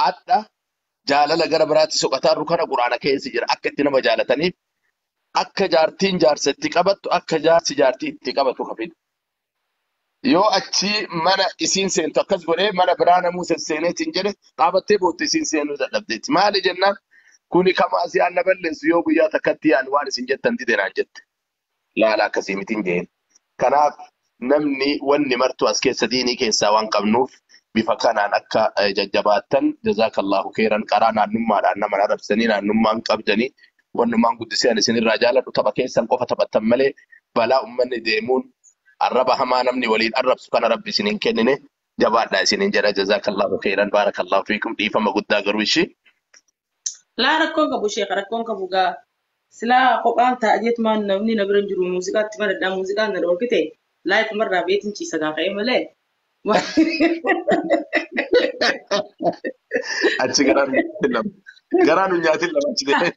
Hadha jaalala gara biraatti soqataarru kana Qur'aana keessa jira. Akka itti nama jaalataniif akka jaartiin jaarsa itti qabattu akka jaarsi jaartii itti qabatu ka fidu. Yoo achi mana isiin seentu akkas godhee mana biraa namuu sesseeneetiin jedhe dhaabattee bootte isiin seenuu dadhabdeetti. Maali jennaan kuni kamaasiyaan na balleessu yoo guyyaa takkatti yaani waan isin jettan dide naan jette. laala akkasii mitiin jeen. Kanaaf namni wanni martuu as keessa diinii keessaa waan qabnuuf bifa kanaan akka eh, jajjabaattan jazaakallahu keeran qaraa naannummaadhaan nama hin arrabsanii naannummaan qabdanii wannumaan guddisee ani isinirraa jaaladhu tapha keessan qofa taphattan malee balaa ummanni deemuun arraba hamaa namni waliin arrabsu kana rabbi isin hin kennine jabaadhaa isinin jedha jazaakallahu keeran baarakallahu fiikum dhiifama guddaa garuu ishii Laa rakkoon qabu sheeka rakkoon qabu gaa silaa kophaan ta'a jeetumaan namni na bira hin jiru muuziqaatti maradhaa muuziqaan na dhoorkite laayifuma irraa beetiin ciisa gaa ka'ee malee. Achi garaa dunyaatiin lama. Garaa dunyaatiin lama achi ta'e.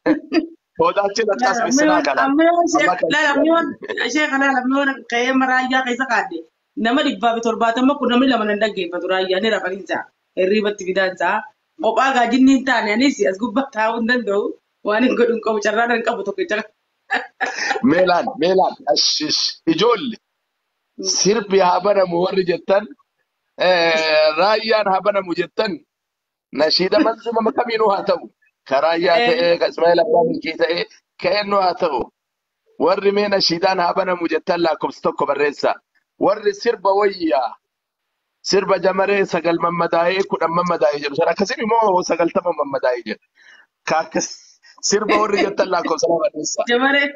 Soodaachiin akkas missinaa kana. Amma yoo Amma sheeka kan laala amma yoo sheeka laala amma yoo ka'ee amma raayyaa keessa kaadde nama dhibbaa fi torbaatama kun namni lama nan dhaggeeffatu raayyaa ni rafaniin ja'a. hirriibatti fidaan ta'a. Kophaa gaa jinni hin taane anis as gubbaa taa'uu hin danda'u. Waan hin godhu hin qabu carraan hin qabu tokkicha. Mee laal mee laal ashish ijoolle sirbi haa banamu warri jettan eh, raayyaan haa banamu jettan nashiida manzumama kamiinuu haa ta'u ka raayyaa Eh. ta'ee ka ismaa'eel abbaa milkii ta'ee ka eenyu haa ta'u warri mee nashiidaan haa banamu jettan lakkoofsa tokko barreessa warri sirba wayyaa sirba jamaree sagal mammadaa'ee kudhan mammadaa'ee jedhu sana akkasii immoo sagaltama mammadaa'ee jedha. Ka akkas sirba warri jettan lakkoofsa lama barreessaa. Jamaree.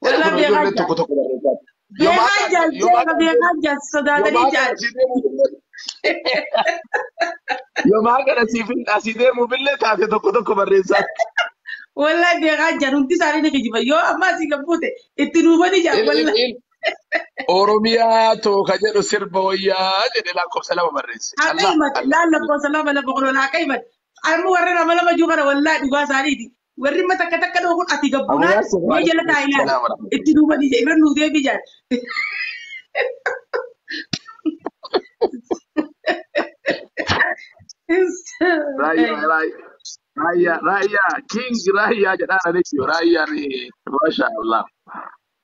Jedha Walaa kun beekaa ijoolleen tokko tokko barreessaa. Yomaa Beekaa kaasa jaal yomaa jeema kaasa beekaa jaal sodaatanii yomaa jaal. kaasa deemu yomaa kana siif hin asii deemuuf illee taate tokko tokko barreessaa. Walaa beekaa jaal hundi isaanii ni kijiba. Yoo ammaa si gabbuute itti nuufanii jaal walaa. Ilmi Oromiyaa too ka jedhu sirba wayyaa jedhe lakkoofsa lama barreesse. Akka Allah himate Allah laal lakkoofsa lama lafa qolola akka himate. Amma warri nama lama juu kana wallaa dhugaa isaaniiti. Warri amma takka takka dhoo kun ati gabbunaan Abuyaa sirba mee jala taa'inaan Salaam warahmatullahi. itti duubanii jee irra nuu deebii jaan. Raayyaa raayyaa raayyaa raayyaa king raayyaa jedhaan ani jiru raayyaa ni masha Allah.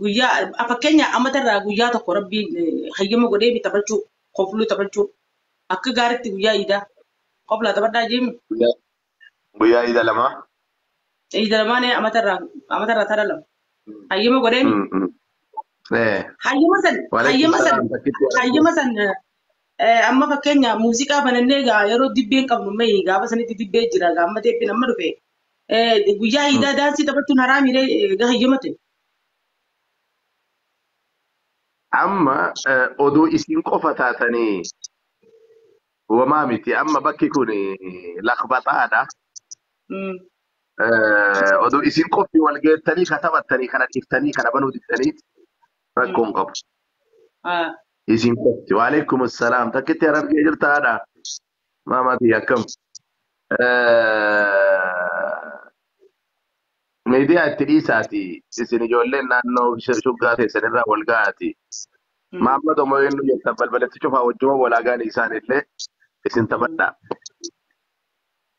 Guyyaa a- fakkeenyaa amata irraa guyyaa tokko rabbiin eh, hayyama godhee mi taphachuu kofluu taphachuu akka gaaritti guyyaa iidaa koflaa taphadhaa jeemi Guyyaa guyyaa ida lama. iida lamaanee amata irraa amata irraa tara lama hayyama godhee mi Mm, mm. Eh. hayyama san Waalaikum hayyama san salaam takkitti argu. hayyama san eh, eh, amma fakkeenyaa muuziqaa banannee gaa yeroo dibbeen qabnu mee gaafa sanitti dibbee jira gaamma teeppiin amma dhufe Eh, Guyyaa Mm. iidaa daansii taphachuun haraami ree eh, gaha iyyuma ta'e. Amma eh, oduu isin qofa taatanii wamaa miti. Amma bakki kun lakbaxaadha. Mm. Eh, Oduu isin qofti wal geettanii ka taphattanii kana dhiftanii kana banuu diddanii Mm. rakkoo hin qabu. Ah. Isin qofti. Waalaikum salaam. Takkitti arabjee jirta haadha. Mama kiyya akkam. Miidiyaa itti dhiisaati isin ijoolleen naannoo shuggaa keessan irraa wal ga'aati. Maamma tomoo eenyu jettan balbalatti cufaa wajjuma walaagaan isaan illee isin taphadha.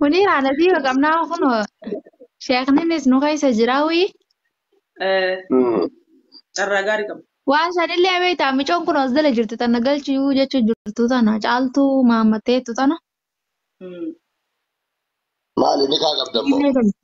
Munii haala fi qabnaa kun sheekninis nu keessa jira wii. Carraa gaarii qaba. Waan sanillee beektaa micoon kun as dala jirtu tana galchuu jechuu jirtu tana caaltuu maammatteettu tana. Maali ni kaa qabda immoo?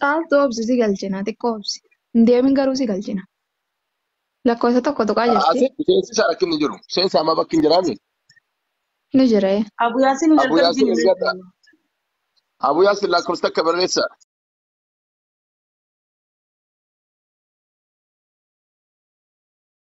Caaltuu obsi si galchina xiqqoo obsi. Hin deemin garuu si galchina. Lakkoofsa tokko tuqaa jirti. Seensi isaa rakkinni jiru. Seensi amma bakki hin jiraanne. Ni jiree. Abu Yaasin hin Abu Yaasin argamsiine. ergadha. Abu Yaasin lakkoofsa takka barreessa.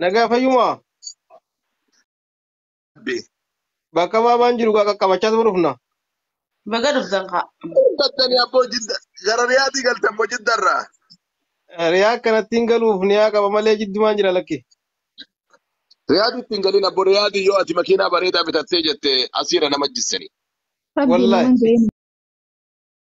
Nagaa fayyumaa Rabbi. bakka baabaan jiru gaa qaqqabachaa tuma dhufna. Baga dhuftan kaa. Gattanii abboo jidda gara riyaatii galtan moo jiddarraa? Riyaa akkanatti hin galuuf niyaa qaba malee jiddumaan jira lakki. Riyaadii ittiin galiin abboo riyaadii yoo ati makiinaa bareedaa bitattee jette asiirra nama jissanii. Rabbii Wallahi. naman ga'ee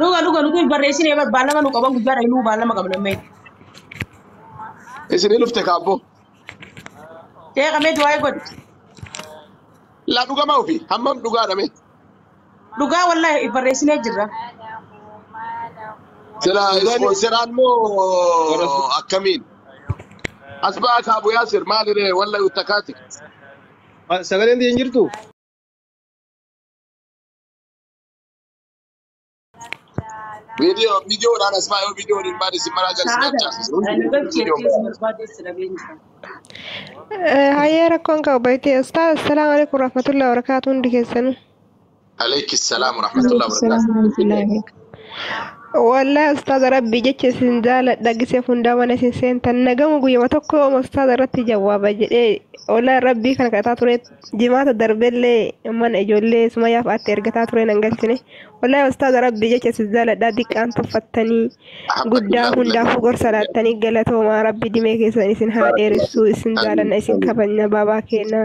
Dhuga dhuga nuti hin barreessine bar baalama nu qaban guyyaa dha inuu baalama qabna mee. Isinii dhufte kaabboo. Sheeka mee du'aa godhi. Laa dhugamaa ofii hammam dhugaadha mee. Dhugaa wallahi hin barreessinee jirra. Sila Dhugaan- ispoonseraan moo akkamiin? As ba'aa kaabu yaasir maaliree walla uttakaati. Sagaleen tiyya hin jirtu? Video video dhaan as baay'oo video waliin baadhi si maraa jala si Sa'aa kana abcaasisuu eh, video nagabchi video jechuus baadha. barbaadee si dhabeen jira. Hayyee rakkoon qabu baay'ee ustaaz assalaamu alaikum warahmatullahi wabarakaatu hundi keessanuu. Aleyki salaam wa rahmatullahi wa Waalaikumsalam barakaatu. warahmatullahi wabarakatuh. Wallahi ustaaza rabbii jecha isin jaaladha gisee hundaa mana isin seentan nagamu guyyama tokko ustaaza irratti jawaaba jedhee wallahi rabbii kana kadhataa ture Jimaata darbellee mana ijoollee sumayyaaf aatti ergataa ture nan galchine. Wallahi ustaaza rabbii jecha si jaaladhaa diqqaan tuffattanii guddaa hundaafuu gorsa laattanii galatoomaa rabbi dimee keessan isin haa dheeressuu isin jaalanna isin kabajna baabaa keenya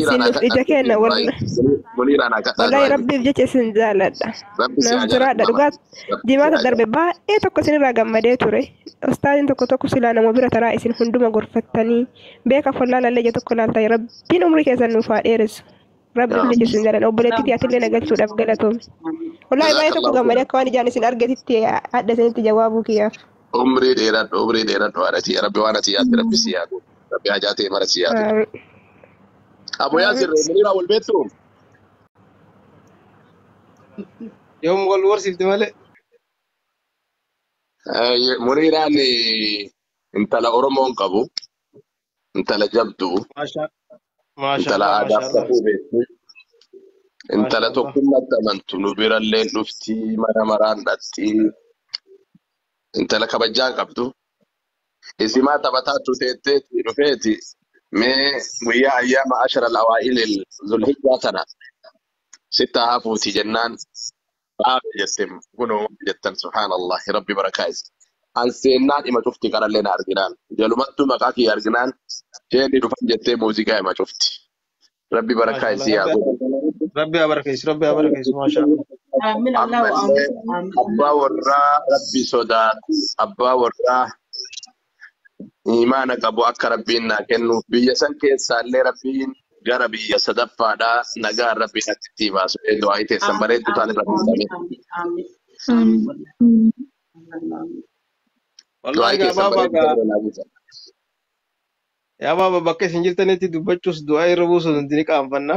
isin nuuf ija keenya wallahi rabbiif jecha isin jaaladha naaf jiraadha dhugaa jimaata darbe baay'ee tokko isinirraa gammadee ture ustaaziin tokko tokko silaa nama bira taraa isin hunduma gorfattanii beeka follaa lallee ija tokko laaltanii rabbi Rabbiin umrii keessan nuuf haa dheeressu. Rabbi Yaa umrii keessan jaalladha. Obboleettii tiyya atillee na galchuudhaaf galatoomi. Wallaahi baay'ee tokko gammade akka waan ijaan isin argetitti adda isinitti jawaabuu kiyyaaf. Umrii dheeradhu, umrii dheeradhu haadha tiyya. Rabbi waan ati yaadde rabbi si yaadu. Rabbi hajaa ta'e mara si yaadu. Aamin. Abu Yaasir Aamin. Muniraa wal beektu? Yoom wal warsiifte malee. Eh, Muniiraan eh, intala Oromoon qabu. intala jabdu Maasha intala maashaallah aadaaf maashaallah safuu beektu intala maashaallah tokkummatti amantu nu birallee dhufti mana maraan dhaqxi intala kabajjaan qabdu isimaa taphataa tuteetteeti dhufeeti mee guyyaa ayyaama ashara alawaa'ilil zulhijjaa tana sittaa hafuuti jennaan Baabe jettem kunoo maal jettan subhaanallah rabbi barakaa is an seennaan ima cufti qarallee na arginaan jalumattuu maqaa kiyya arginaan sheeni dhufan jettee muuziqaa ima cufti rabbi barakaa Maashaallah isii haa rabbi godhu rabbi haa barakeessu rabbi haa barakeessu maashaallah. Amin Allahu ammallee Amin abbaa Allahu Amin. warraa rabbi sodaatu abbaa warraa iimaana qabu akka rabbiin naa kennuuf biyya san keessaallee rabbiin gara biyya sadaffaadhaa nagaan rabbiin akka ittii baasu ee du'aa'ii teessan Aamin, bareedduu taan aamin, irra aamin, fuudhamee aamin, aamin, aamin, wallaahi, aamin. Wallaahi du'aa'ii gaa teessan baaba bareedduu gaa irra naa buusa yaa baaba bakka isin jirtanitti dubbachuus du'aa irra buusuun hundi ni qaanfanna.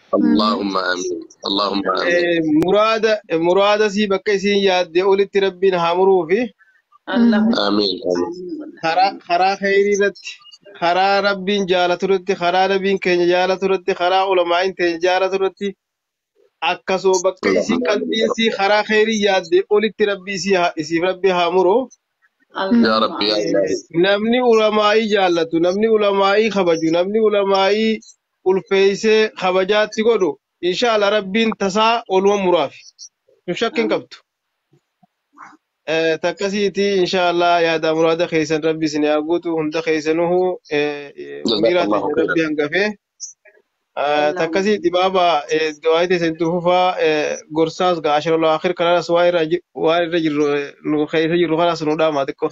Allahumma amiin. Allahumma amiin. Eh, muraada muraada sii bakka isiin yaadde olitti rabbiin haa muruu fi Allahumma Amiin. Amiin. karaa karaa kheyrii irratti karaa rabbiin jaalatu irratti karaa nabiin keenya jaalatu irratti karaa ulamaa'iin keenya jaalatu irratti akkasuma bakka isii Allahumma amiin. qalbii isii karaa kheyrii yaadde olitti rabbi isii haa- isiif rabbi haa muru Yaa Allahumma Rabbi yaa Eh, Ilaahi. namni ulamaa'ii jaallatu namni ulamaa'ii kabaju namni ulamaa'ii ulfeeysee kabajaatti godhu inshaalla rabbiin tasaa oluma muraafi sun shakki hin qabdu takkasiiti inshaalla yaada muraada keeysan rabbi isin yaa guutu hunda keeysanuhu amiiraa teenya rabbi hangafee takkasiiti baaba du'aayii teeysan itti fufaa gorsaas gaa ashirul akhir kanaas waan irra jirru nu keeysa jirru kanaas nu dhaamaa xiqqoo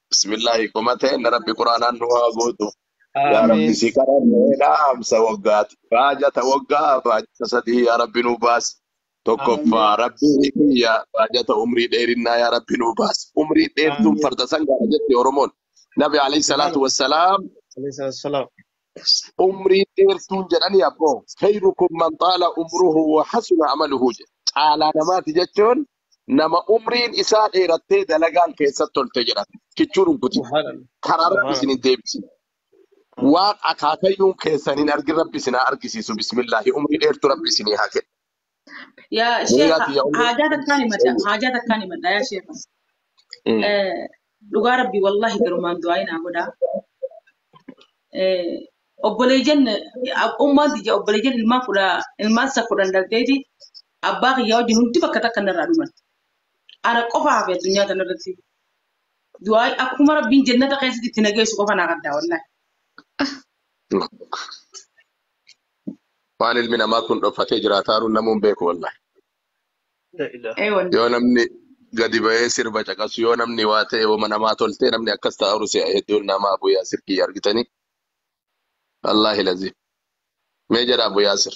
Bismillaahi qoma ta'een rabbi quraanaan nu haa guutu. Yaa rabbi Amiin. si kadhannee dhaamsa waggaati. Baajata waggaa baajata sadii yaa rabbi nu baasi. Tokkoffaa Amiin. rabbi kiyya baajata umrii dheerinnaa yaa rabbi nu baasi. Umrii dheertuun Amiin. farda sangaadha jetti Oromoon. Nabi alayhi salaatu Subhaanallah. wassalaam Alayhi salaatu wassalaam. umrii dheertuun jedhanii abboo. Khayrukum man xaala umruhu wa hasuna amaluhu jedhe. Caalaa namaati jechuun nama umriin isaa dheerattee dalagaan keessatti tolte jedhan kichuu dhunkuti Subhanallah. karaa rabbi Subhanallah. isin hin deebisin waan akaakayyuun keessan hin argin rabbi isin haa argisiisu bismillaahi umrii dheertu rabbi isin haa kennu Yaa sheekha Duniyaati yaa umrii haajaa takkaan himadha Eeyyee. haajaa takkaan himadha yaa sheekha. Mm. Eh, Dhugaa rabbi wallahi garumaan du'aa inaa godhaa. Eh, Obboleeyyan ummaan tiyya obboleeyyan ilmaan kudha ilmaan isa kudhan dhalteeti Abbaa kiyyaa wajjin hundi bakka takka narraa dhuman. Ana qofa hafe addunyaa tanarratti. Du'aay akkuma rabbiin jennata keessatti itti nageessu qofa naa gaddaa wallaahi. Waan ilmi namaa kun dhoffatee jiraataaru namuun beeku wallahi. Ee wallahi. Yoo namni gadi bahee sirba caqasu yoo namni waa ta'e wama namaa toltee namni akkas ta'aru si'a hedduun nama Abu Yaasir kiyya argitanii. Wallaahi laziim. Mee jedha Abu Yaasir.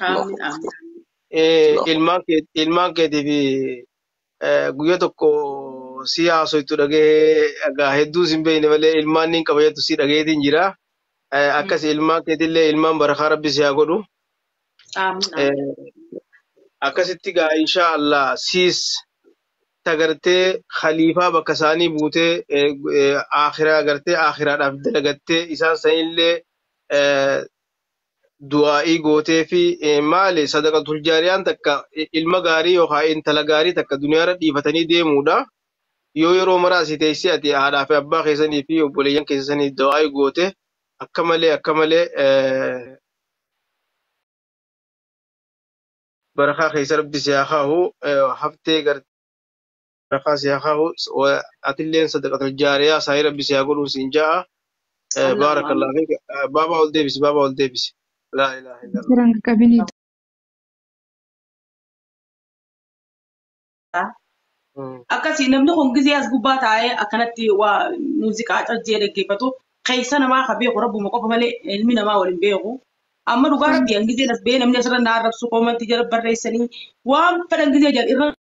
Aamin aamin. Eh, Allahu ilmaan kee ilmaan keetii fi eh, guyyaa tokko si haasoytu dhagahee egaa hedduu sin beeyne malee ilmaan niin qaba jettu si dhageetiin jira. Eh, akkas ilmaan keetillee ilmaan barakaa rabbi si haa godhu. Aamin aamin. Eh, akkasitti gaa inshaa Allah siis tagartee khaliifaa bakka isaanii buutee eh, eh, akhiraa gartee akhiraadhaaf dalagattee isaan sanillee eh, du'aa'ii gootee fi maali sadaqatul jaariyaan takka ilma gaarii yookaan intala gaarii takka duniyaarra dhiifatanii deemuudha. Yoo yeroo mara asii teessee ati haadhaa fi abbaa keessanii fi obboleeyyan keessanii du'aa'ii goote akka malee akka malee barakaa keessa rabbi si haa kaahu haftee garte. Barakaa si haa kaa'u. Wa- Atilleen sadaqatul jaariyaa saayii rabbi si haa godhuu siin ja'a. Eh, Allahumma Baarakallah amiin. fiik. Eh, Baabaa ol deebisi, baabaa ol deebisi. Laa ilaaha illallah. Jiran qabinii Mm. akkasii namni kun gizee as gubbaa taa'ee akkanatti waa muuziqaa cajjee dhaggeeffatu keessa namaa ka beeku rabbuma qofa malee ilmi namaa waliin beeku. Amma dhugaa rabbi an gizeen as ba'ee namni asirra na arrabsu koomantii jala barreessanii waan fedhan gizee jedhan irra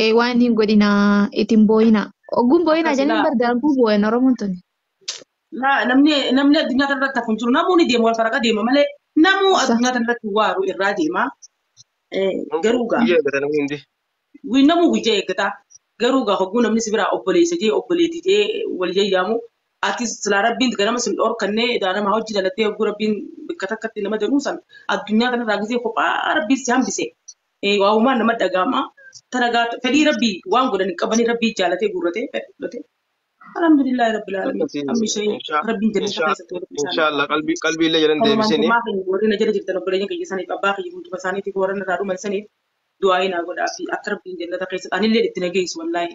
Ee waan hin godhinaa itin booyinaa. Ogguun booyinaa Akkas jedhanii ilaa. bar daakuu booyan Oromoon tuni. Na- namni namni addunyaa kana irratti hafu hin jiru namuu ni deema wal faraqa deema malee namuu Sa- addunyaa kana irratti waaru irraa deema Eh, garuu gaa Guyyaa eeggata namni hundi. guyyaa namuu guyyaa eeggata garuu gaa hogguu namni si biraa obboleessa jee obboleetti jee wal yayyaamu ati silaa rabbiin ganama sin dhorkannee edaa nama hojii dalattee hogguu rabbiin bakka takkatti nama jedhuu san addunyaa kana irraa gisee kophaa rabbiin si hambise Eh, waa uumaan nama dhaga'ama. Taragaa fedhii rabbii waan godhan hin qabanii rabbii jaalatee guurratee fedhii godhatee. Alhamdulillah rabbil alamin. akkasii Amma ishee inshaa rabbiin jannata inshaa keessatti walitti isaan inshaa Allah qalbii qalbii illee jedhan Kanumaan deebisini kumaa keenya warri na jala jirtan obboleeyyan kiyya saniif abbaa kiyya hunduma isaaniitiif warra narraa dhuman saniif du'aa'ii naa godhaa fi akka rabbiin jannata keessatti anillee itti na geessu wallaahi.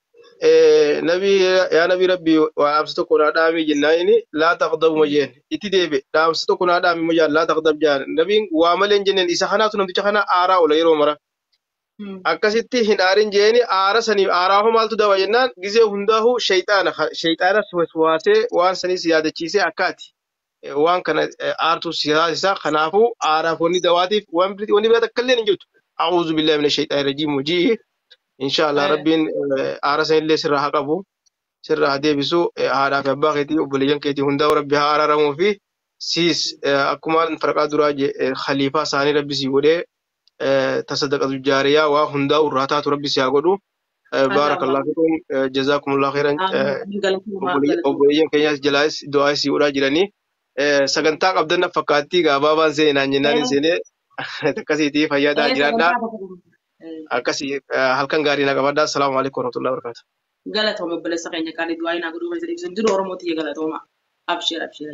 Eh, nabi yaa nabi rabbi waa dhaamsa tokko naa dhaami jennaan inni laa taqdabu ma jeen itti deebe dhaamsa tokko naa dhaami ma jaan laa taqdab jaan nabiin waa malee hin jenneen isa kanaatu namticha kana aaraa oola yeroo mara akkasitti hin aarin jeeni aara sanii aaraa hoo maaltu daba jennaan gizee hundaahuu shayxaana shayxaana waswaasee waan saniis yaadachiisee akkaati waan kana aartuu si taasisa kanaafuu aaraaf wanni dawaatiif waan biriti wanni biraa takka illee hin jirtu a'uuzu billahi mina shayxaani rajiim hojii inshaallah Eh. rabbiin eh, aara san illee sirraa haa qabu sirraa haa deebisu eh, haadhaa fi abbaa keetii obboleeyyan keetii hundaa'u rabbi haa araaramuu fi siis eh, akkuma farqaa duraa je eh, khaliifaa isaanii rabbi sii godhee ta sadaqatu jaariyaa waa hundaa irraa taatu rabbi si haa godhu Masha baarakallah Allah. fikum jazaakumullah khairan Amiin. Galatoomaa. Galatoomaa. obboleeyyan keenyaas jalaas du'aa isii godhaa jiranii Eh, sagantaa qabdan na fakkaattii gaabaabaan seene naan jennaan hin seene akkasiitii fayyadaa Ee, jiraadhaa sagantaa tokko tokko. Ee, akkasii eh, halkan gaarii na qabadhaa assalaamu alaikum warahmatullahi wabarakatuh Galatooma obboleessa keenya qaalii du'aa inaa godhuu keessa dhiibsan jiru Oromoo tiyya galatooma. Absheer absheer.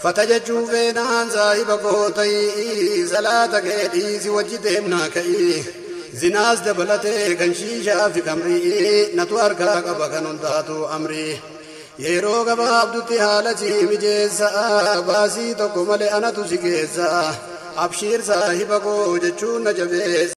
Fata jechuu feenaan saahiba koo ta'ii Salaata kee dhiisi wajji deemnaa ka'ii Zinaas dabalatee kan shiishaa fi kamrii Natu harkaa qaba kan hundaatuu amrii Yeroo gabaabdutti haala sii mijeessa Baasii tokko malee anatu si geessa Abshiir saahiba koo jechuun na jabeessa.